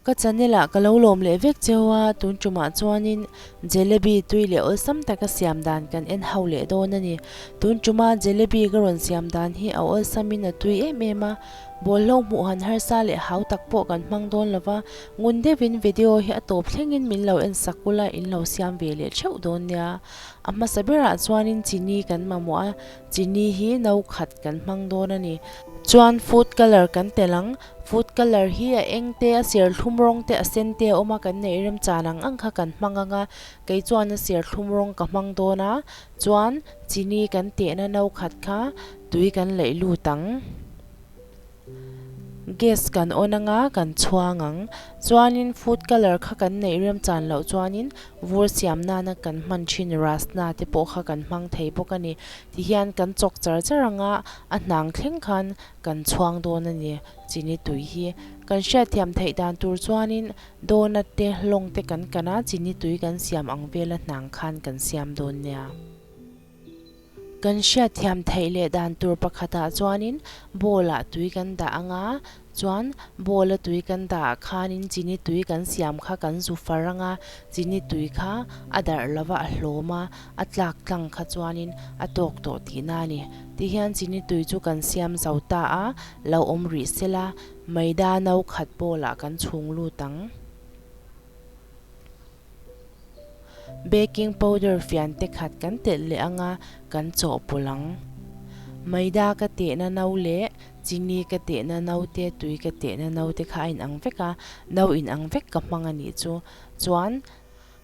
Ka channelah ka lo lawm leh vek cheu a, tun tumah chuanin jalebi tui leh awlsam taka siam dan kan en hau leh dawn a ni. Tun tuma jalebi ka rawn siam dan hi a awlsamin a tui em em a, bawlhhlawh hmuh han harsa leh hau tak pawh kan hmang dawn lo va, Ngun deuhin video hi a tawp thlengin min lo en sak bula in lo siam ve leh theuh dawn nia. A hmasa berah chuanin chini kan mamawh a, chini hi no khat kan hmang dawn a ni. Chuan food colour kan telh ang, food colour hi a eng te, a serthlum rawng te, a sen te a awm a, kan neih rem chan ang ang kha kan hmang anga, kei chuan a serthlum rawng ka hmang dawn a, chuan chini kan tehna no khat kha tui kan laih lut ang. Gas kan on ang a, kan chhuang ang. Chuanin food colour kha kan neih rem chan loh chuanin vur siam nana kan hman thin rust na te pawh kha kan hmang thei bawk a ni. Tihian kan chawk char char ang a, a hnang thleng khan kan chhuang dawn a ni chini tui hi. Kan hriat thiam theih dan tur chuanin donut te lawng te kan kan a, chini tui kan siam ang vel a hnang khan kan siam dawn nia. Kan hriatthiam theih leh dan tur pakhatah chuanin ball-ah tui kan dah ang a, chuan ball-a tui kan dah khanin chini tui kan siam kha kan zu far ang a, chini tui kha a darh lova a hlawm a, a tlak tlang kha chuanin a tawk tawh tihna a ni. Tihian chini tui chu kan siam zo ta a, lo awm rih se la, Maida no khat ball-ah kan chhung lut ang. Baking powder fian te khat kan telh leh anga kan chawh pawlh ang. Maida ka tehna no leh chini ka tehna no te tui ka tehna no te kha a in ang vek a, no in ang vek ka hmang a nih chu. Chuan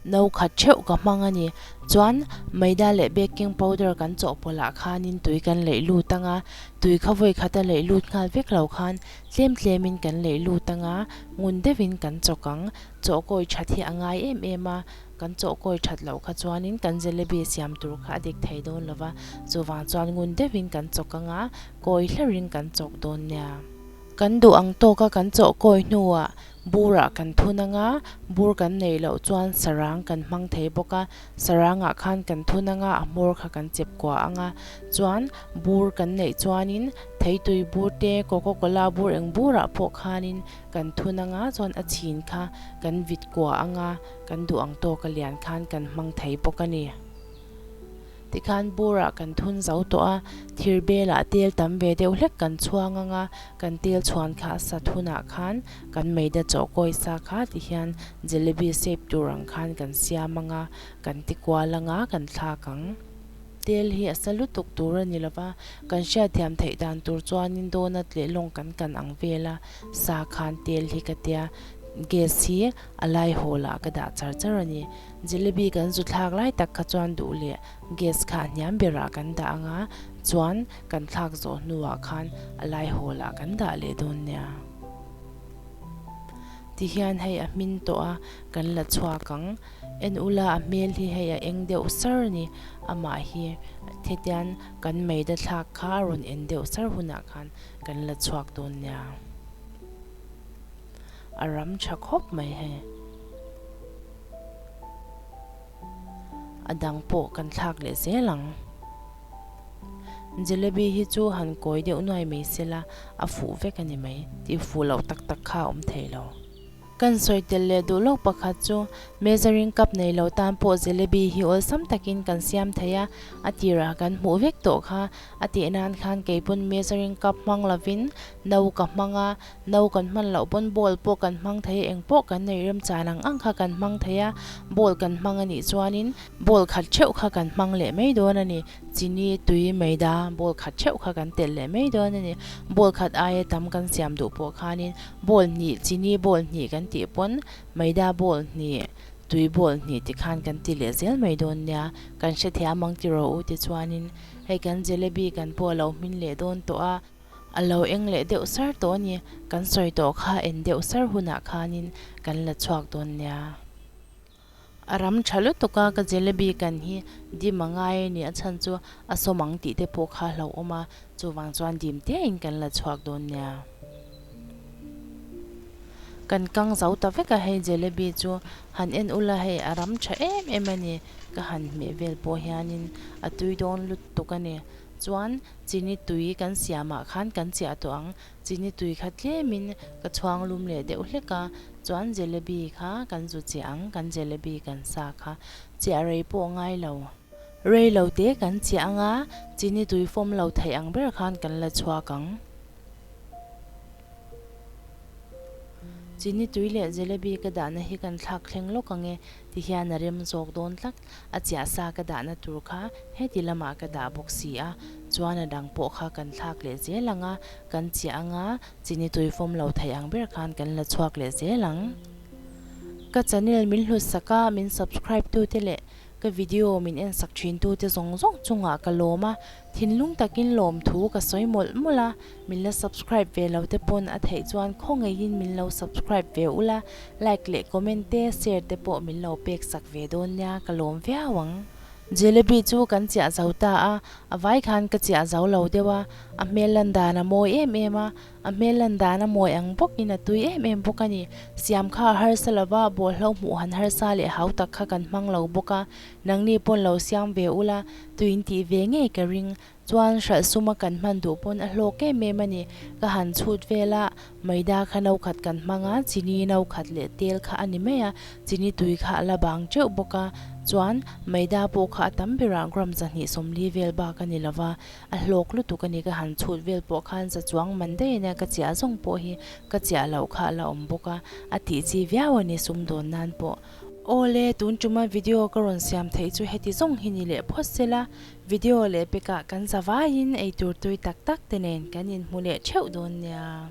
no khat theuh ka hmang a ni. Chuan maida leh baking powder kan chawh pawlh ah khanin tui kan leih lut ang a, tui kha vawi khat a leih lut nghal vek lo khan tlem tlem in kan leih lut ang a, ngun deuh in kan chawk ang. Chawhkawi that hi a ngai em em a, kan chawhkawi that loh kha chuanin kan jalebi siam tur kha a dik thei dawn lo va, chuvang chuan ngun deuhin kan chawk ang a, kawi hlerin kan chawk dawn nia. Kan duh ang tawk a, kan chawhkawi hnuah burah kan thun ang a, bur kan nei loh chuan sarang kan hmang thei bawk a, sarangah khan kan thun ang a, a hmawr kha kan chep kuah ang a, chuan bur kan neih chuanin theitui bur te, coca cola bur eng burah pawh khanin Kan thun anga chuan a chhin kha kan vit kuah anga kan duh ang tawk a lian khan kan hmang thei bawk a ni. Tikhan bura kan thun zo tawh a, thir belah tel tam ve deuh hlek kan chhuang anga kan tel chhuan kha a sat hunah khan kan meida chawhkawi sa kha ti hian jalebi sep tur ang khan kan siam anga kan ti kual anga kan thlak ang. Tel hi a sa lutuk tur a ni lo va, kan hriat thiam theih dan tur chuanin donut leh lawng kan kan ang vel a, sa khan tel hi ka tia gas hi a lai hawlah ka dah char char a ni. Jelebi kan zu thlak lai tak kha chuan duh leh gas kha a hniam berah kan dah anga chuan kan thlak zawh hnuah khan a lai hawlah kan dah leh dawn nia. Ti hian hei a hmin tawh a, kan la chhuak ang. En ula a hmel hi hei a eng deuh sar ni, amah hi hetian kan meida thlak kha a rawn en deuh sar hunah khan kan la chhuak dawn nia. A ram tha khawp mai hei. A dang pawh kan thlak leh zel ang. Jalebi hi chu han kawi deuh nuai mai sela a fuh vek a ni mai. Tih fuh loh tak tak kha a awm thei lo. Kan sawi tel leh duh lawk pakhat chu measuring cup nei loh tan pawh jelebi hi awlsam takin kan siam thei a, a tirah kan hmuh vek tawh kha. A tih nan khan kei pawn measuring cup hmang lovin no ka hmang a, no kan hman loh pawn bowl pawh kan hmang thei a, engpawh kan neih rem chan ang ang kha kan hmang thei a, bowl kan hmang a nih chuanin bowl khat theuh kha kan hmang leh mai dawn a ni. Chini tui meida ball khat theuh kha kan telh leh mai dawn a ni. Ball khat aia tam kan siam duh pawh khanin ball hnih, chini ball hnih kan tih pawn meida ball hnih, tui ball hnih ti khan kan ti leh zel mai dawn nia. Kan hre thei a mang ti rawh u ti chuanin hei kan jalebi kan pawh a lo hmin leh dawn tawh a, a lo eng leh deuh sar tawh a ni. Kan sawi tawh kha en deuh sar hunah khanin kan la chhuak dawn nia. A ram tha lutuk a, ka jalebi kan hi dim a ngai a ni, a chhan chu a sawm ang tih te pawh kha hlauhawm a, chuvang chuan dim tiah in kan la chhuak dawn nia. Kan kang zo ta vek a, hei jalebi chu han en ula hei, a ram tha em em a ni, ka han hmeh vel pawh hian in a tui dawn lutuk a ni, chuan chini tui kan siam ah khan kan chiah tawh ang, Chini tui kha tlemin ka chhuang lum leh deuh hlek a, chuan jalebi kha kan zu chiah ang, kan jalebi kan sa kha chiah rei pawh ngai lo. Rei lo te kan chiah anga chini tui fawm lo theih ang ber khan kan la chhuak ang. Chini tui leh jalebi ka dahna hi kan thlak thleng lawk ange tihian a rem zawk dawn tlat. A chiah sa ka dahna tur kha heti lamah ka dah bawk si a, chuan a dang pawh kha kan thlak leh zel ang a, kan chiah ang a, chini tuifawm lo theih ang ber khan kan la chhuak leh zel ang. Ka channel min hlusak a, min subscribe tute leh ka video min en sak thin tute zawng zawng chungah ka lawm a, Thinlung takin lawmthu ka sawi mawlh mawlh a, min la subscribe ve lo te pawn a theih chuan khawngeiin min lo subscribe ve ula, like leh comment te share te pawh min lo pek sak ve dawn nia, ka lawm viau ang. Jalebi chu kan chiah zo ta a, a vai khan ka chiah zo lo deuh a, a hmel landan a mawi em em a, a hmel landan a mawi ang bawkin a tui em em bawk a ni, siam kha a harsa lova, bawlhhlauhmuh han harsa leh hautak kha kan hmang lo bawk a, Nangni pawn lo siam ve ula, tui in tih ve ngei ka ring. Chuan hralh suma kan hman duh pawn a hlawk em em a ni. Ka han chhut vel a, Maida kha no khat kan hmang a, chini no khat leh tel kha a ni mai a, chini tui kha a la bang teuh bawk a. Chuan Maida pawh kha a tam berah gram zahnih sawmli vel bak a ni lo va, a hlawk lutuk a ni. Ka han chhut vel pawh khan za chuang man daih ania ka chiah zawng pawh hi ka chiah loh kha a la awm bawk a, a tih chi viau a ni sum dawn nan pawh. Awle, tun tuma video ka rawn siam theih chu heti zawng hi ni leh phawt se la, video leh pekah kan zavaiin eitur tui tak tak te nen kan inhmu leh theuh dawn nia.